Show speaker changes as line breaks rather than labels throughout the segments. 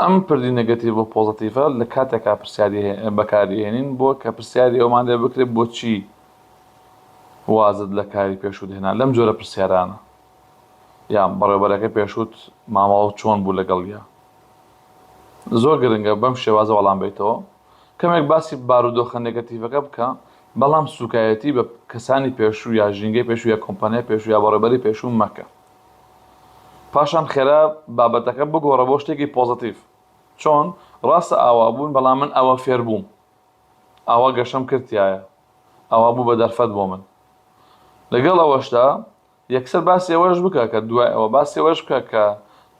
ئەم پردی نەگەتیڤ و پۆزەتیڤە لە کاتێکا پرسیاری بەکاریهێنین بۆ کە پرسیاری ئەومان لێ بکرێت بۆچی وازت لە کاری پێشوت هێنا لەم جۆرە پرسیارانە یان بەڕێبەرەکە پێشوت مامەڵە چۆن بوو لەگەڵ یا زۆر گرنگە بەم شێوازە وەڵام بیتەوە کەمێک باسی بارودۆخە نگەتیڤەکە بکە بەڵام سوکایەتی بە کەسانی پێشوو یا ژینگەی پێشوو یا کۆمپانیای پێشوو یا بەڕێبەری پێشوو مەکە پاشان خێرا بابەتەکە بگۆڕە بۆ شتێکی پۆزەتیڤ. چۆن؟ ڕاستە ئاوا بوون، بەڵام من ئاوا فێر بووم. ئاوا گەشەم کرد تیایا. ئاوا بوو بە دەرفەت بۆ من. لەگەڵ ئەوەشدا، یەکسەر باسی ئەوەش بکە کە دوای ئەوە، باسی ئەوەش بکە کە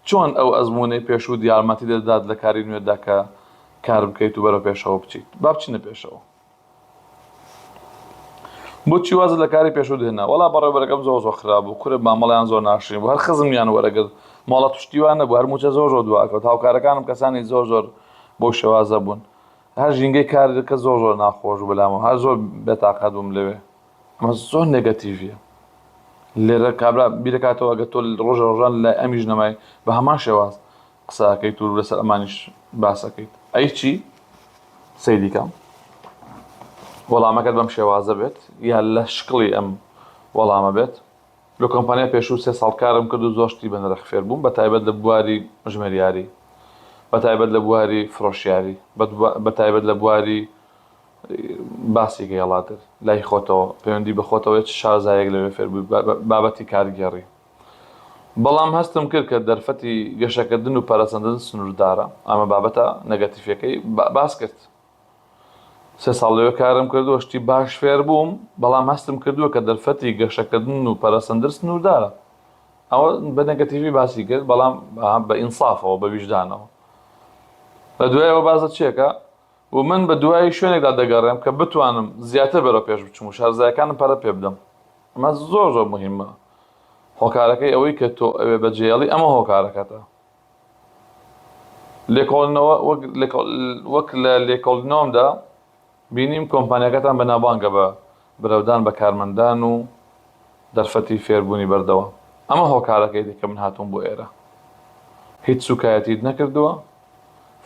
چۆن ئەو ئەزموونەی پێشووت یارمەتی دەدات لە کاری نوێتدا کە کار بکەیت و بەرەو پێشەوە بچیت. با بچینە پێشەوە. بۆچی وازت لە کاری پێشوو دێنا وەڵا بەڕێبەرەکەم زۆر زۆر خراپ بوو کورە مامەڵیان زۆر ناشرین بوو هەر خزمیان وەرەگرت ماڵە پشتیوان نەبوو هەر موچە زۆر زۆر دواکەوت هاوکارەکانم کەسانی زۆر زۆر بۆ شێوازە بوون هەر ژینگەی کارەکە زۆر زۆر ناخۆش بەلامەوە هەر زۆر بێتاقەت بووم لەوێ ئەمە زۆر نێگەتیڤە لێرە کابرا بیرەکاتەوە ئەگە تۆ ڕۆژە ڕۆژان لای ئەمیش نەمای بە هەمان شێواز قسە ئەکەیت و لەسەر ئەمانیش باس ئەکەیت ئەی چی سەیری کەم وەڵامەکەت بەم شێوازە بێت یا لە شکڵی ئەم وەڵامە بێت لە کۆمپانیا پێشوو سێ ساڵ کارم کرد و زۆر شتی بە نرخ فێر بووم بە تایبەت لە بواری ژمێریاری بە تایبەت لە بواری فرۆشیاری بە تایبەت لە بواری باسی گەیەڵاتر لای خۆتەوە پەیوەندی بە خۆتەوەی چ شارزایەک لەوێ فێربووی بابەتی کارگێڕی بەڵام هەستم کرد کە دەرفەتی گەشەکردن و پەرەسەندن سنووردارە، ئەمە بابەتە نەگەتیفەکەی باس کرد. سێ ساڵ لەوێ کارم کردووە، شتی باش فێر بووم، بەڵام هەستم کردووە کە دەرفەتی گەشەکردن و پەرەسەندن سنووردارە. ئەوە بە نەگەتیفی باسی کرد، بەڵام بە ئینسافەوە، بە ویژدانەوە. لە دوای ئەوە باس لە چیەکە و من بە دوای شوێنێکدا دەگەڕێم کە بتوانم زیاتر بەرەو پێش بچم و شارەزایەکانم پەرە پێ بدەم. ئەمە زۆر زۆر مهمە هۆکارەکەی ئەوەی کە تۆ ئەوێ بەجێڵی ئەمە هۆکارەکەتە لێکۆڵنەوە وەک لە لێکۆڵنۆمدا بینیم کۆمپانیەکەتان بەناوبانگە بە برەودان بە کارمەندان و دەرفەتی فێربوونی بەردەوە ئەمە هۆکارەکەی دیکە من هاتووم بۆ ئێرە هیچ سوکایەتیت نەکردووە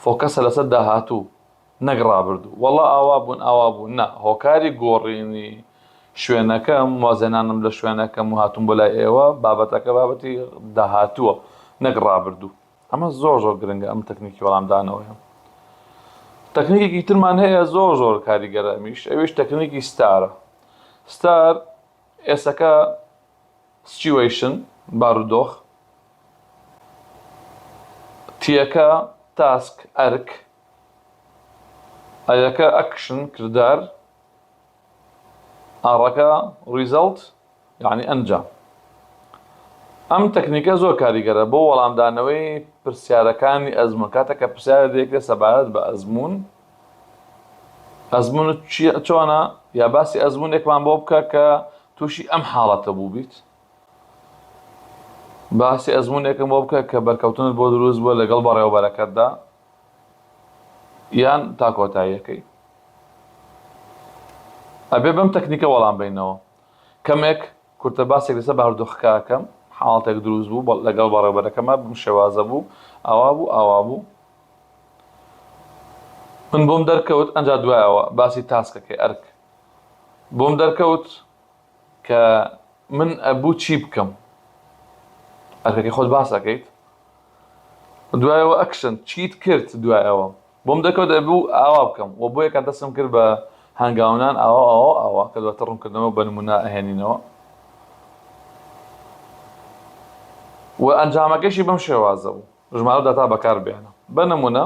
فۆکەسە لەسەر داهاتوو نەک ڕابردوو وەڵا ئاوا بوون ئاوا بوو نا هۆکاری گۆڕینی شوێنەکەم وازهێنانم لە شوێنەکەم و هاتووم بۆ لای ئێوە بابەتەکە بابەتی داهاتووە نەک ڕابردوو ئەمە زۆر زۆر گرنگە ئەم تەکنیکی وەڵامدانەوەیە تەکنیکێکی ترمان هەیە زۆر زۆر کاریگەرە ئەمیش ئەویش تەکنیکی ستارە ستار ئێسەکە سچیوەیشن بارودۆخ تیەکە تاسک ئەرک ئەیەکە ئەکشن کردار ئاڕەکە ڕیزەڵت یانی ئەنجام ئەم تەکنیکە زۆر کاریگەرە بۆ وەڵامدانەوەی پرسیارەکانی ئەزموون کاتێک کە پرسیارە دێکرێت سەبارەت بە ئەزموون ئەزمونت چییە چۆنە یا باسی ئەزمونێکمان بۆ بکە کە تووشی ئەم حاڵەتە بوو بیت باسی ئەزمونێکم بۆ بکە کە بەرکەوتنت بۆ دروست بووە لەگەڵ بەڕێوەبەرەکەتدا یان تا کۆتاییەکەی؟ ئەبێ بەم تەکنیکە وەڵام بەینەوە. کەمێک کورتە باسێک لەسەر بارودۆخەکە ئەکەم، حاڵتێک دروست بوو بە لەگەڵ بەڕێوبەرەکەما بم شێوازە بوو، ئاوا بوو ئاوا بوو. من بۆم دەرکەوت ئەنجا دوای ئەوە باسی تاسکەکەی، ئەرک، بۆم دەرکەوت. کە من ئەبوو چی بکەم ئەرکەکەی خۆت باس ئەکەیت دوایەوە ئەکشن چیت کرد دوایەوە بۆم دەکەوت ئەبوو ئاوا بکەم و بۆ یەکە دەسم کرد بە هەنگاونان ئاوا ئاوا ئاوا کە دواتە ڕوونکردنەوە بە نمونە ئەهێنینەوە و ئەنجامەکەشی بەم شێوازە بوو ژمارە و داتا بەکار بێنە. بە نموونە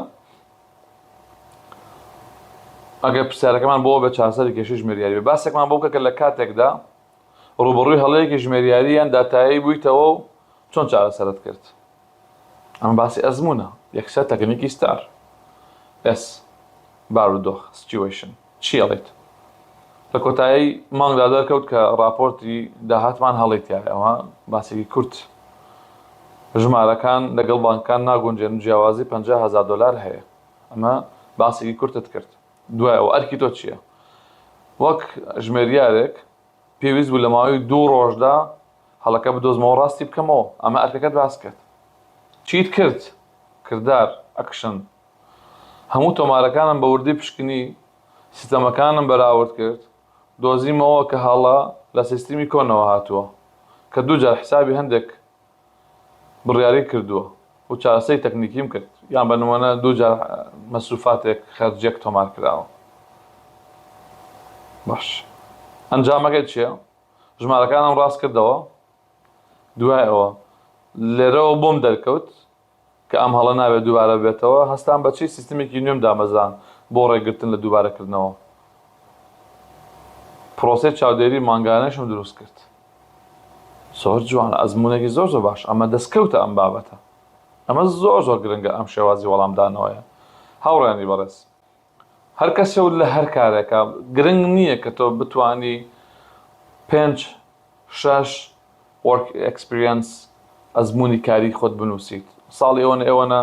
ئەگەر پرسیارەکەمان بۆ بێت چارەسەری کێشەی ژمێریاری بێت، باسێکمان بۆ بکە کە لە کاتێکدا ڕووبەڕووی هەڵەیەکی ژمێریاری یان داتایی بوویتەوە و چۆن چارەسەرت کرد. ئەمە باسی ئەزموونە، یەکسەر تەکنیکی ستار. ئێس. بارودۆخ، Situation. چی ئەڵێیت؟ لە کۆتایی مانگدا دەرکەوت کە ڕاپۆرتی داهاتمان هەڵەی تیایە، ئەمە باسێکی کورت، ژمارەکان لەگەڵ بانکەکان ناگونجێن و جیاوازی پەنجا هەزار دۆلار هەیە. ئەمە باسێکی کورتت کرد، دوای ئەوە ئەرکی تۆ چییە؟ وەک ژمێریارێک پێویست بوو لە ماوەی دوو ڕۆژدا هەڵەکە بدۆزمەوە و ڕاستی بکەمەوە، ئەمە ئەرکەکەت باس کرد. چیت کرد؟ کردار، ئەکشن. هەموو تۆمارەکانم بە وردی پشکنی سیستەمەکانم بەراورد کرد دۆزیمەوە کە هەڵە لە سیستمی کۆنەوە هاتووە کە دوو جار حسابی هەندێک بڕیاری کردووە و چارەسەری تەکنیکیم کرد یان بە نمۆنە دوو جار مەسروفاتێک خەرجیەک تۆمار کراوە باش ئەنجامەکەی چیە ژمارەکانم ڕاست کردەوە دوای ئەوە لێرەوە بۆم دەرکەوت کە ئەم هەڵە نابێت دووبارە ببێتەوە، هەستام بە چی سیستمێکی نوێم دامەزراند بۆ ڕێگرتن لە دووبارەکردنەوە. پرۆسەی چاودێری مانگانەیشم دروست کرد. زۆر جوان، ئەزموونێکی زۆر زۆر باش، ئەمە دەستکەوتە ئەم بابەتە. ئەمە زۆر زۆر گرنگە ئەم شێوازی وەڵامدانەوەیە هاوڕێیانی بەڕێز. هەر کەسێ و لە هەر کارێکا گرنگ نییە کە تۆ بتوانی پێنج شەش وۆرک ئێکسپریەنس ئەزموونی کاریی خۆت بنووسیت ساڵی ئەوەنە ئەوەنە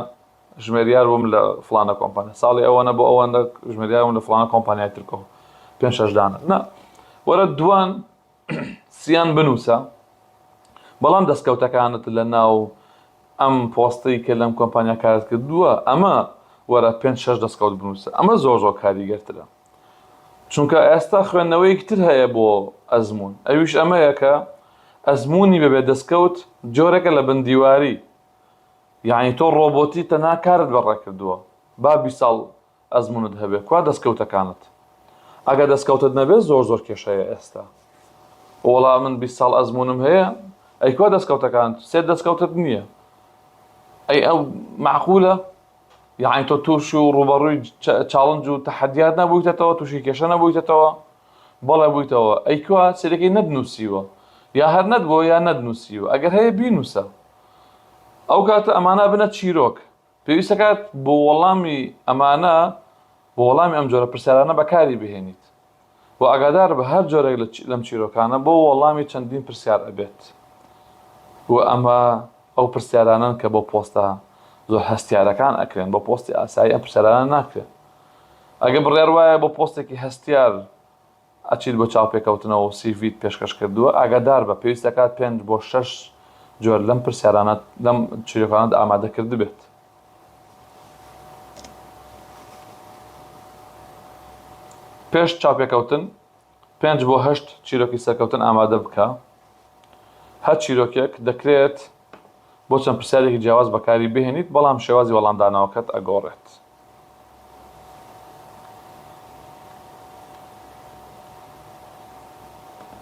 ژمێریار بووم لە فڵانە کۆمپانیا ساڵی ئەوەنە بۆ ئەوەنە ژمێریار بووم لە فڵانە کۆمپانیای ترکۆ پێنج شەش دانە نا وەرە دوان سیان بنوسە بەڵام دەستکەوتەکانت لە ناو ئەم پۆستەی کە لەم کۆمپانیا کارت کردووە ئەمە وەرە پێنج شەش دەستکەوت بنوسە ئەمە زۆر زۆر کاریگەرترە چونکە ئێستا خوێندنەوەیەکی تر هەیە بۆ ئەزمون ئەویش ئەمەیە کە ئەزمونی بەبێ دەستکەوت جۆرەکە لە بندیواری یعنی تۆ ڕۆبۆتی تەنها کارت بەڕێ کردووە با بیست ساڵ ئەزمونت هەبێ کوا دەستکەوتەکانت ئەگەر دەستکەوتت نەبێ زۆر زۆر کێشەیە ئێستا وەڵا من بیست ساڵ ئەزمونم هەیە ئەی کوا دەستکەوتەکانت سێت دەستکەوتت نییە ئەی ئەو معقولە یعنی تۆ تووش و ڕوبەڕووی چاڵنج و تەحەدیات نەبوویتەتەوە تووشی کێشە نەبوویتەتەوە بەڵێ بوویتەوە ئەی کوا سێرەکەی نەدنووسیوە یا هەر نەت بۆ یا نەدنووسیوە ئەگەر هەیە بینووسە ئەو کاتە ئەمانە بنە چیرۆک پێویست دەکات بۆ وەڵامی ئەمانە، بۆ وەڵامی ئەم جۆرە پرسیارانە بەکاری بهێنیت و ئاگادار بە هەر جۆرێک لەم چیرۆکانە بۆ وەڵامی چەندین پرسیار ئەبێت و ئەمە ئەو پرسیارانەن کە بۆ پۆستە زۆر هەستیارەکان ئەکرێن بۆ پۆستی ئاسایی ئەم پرسیارانە ناکرێن ئەگە بڕیار وایە بۆ پۆستێکی هەستیار ئەچیت بۆ چاوپێکەوتنەوە و سی ڤیت پێشکەش کردووە، ئاگادار بە، پێویست دەکات پێنج بۆ شەش جۆر لەم پرسیارانەت لەم چیرۆکانەت ئامادە کردبێت. پێش چاوپێکەوتن پێنج بۆ هەشت چیرۆکی سەرکەوتن ئامادە بکە، هەر چیرۆکێک دەکرێت، بۆ چەند پرسیارێکی جیاواز بەکاری بهێنیت بەڵام شێوازی وەڵامدانەوەکەت ئەگۆڕێت.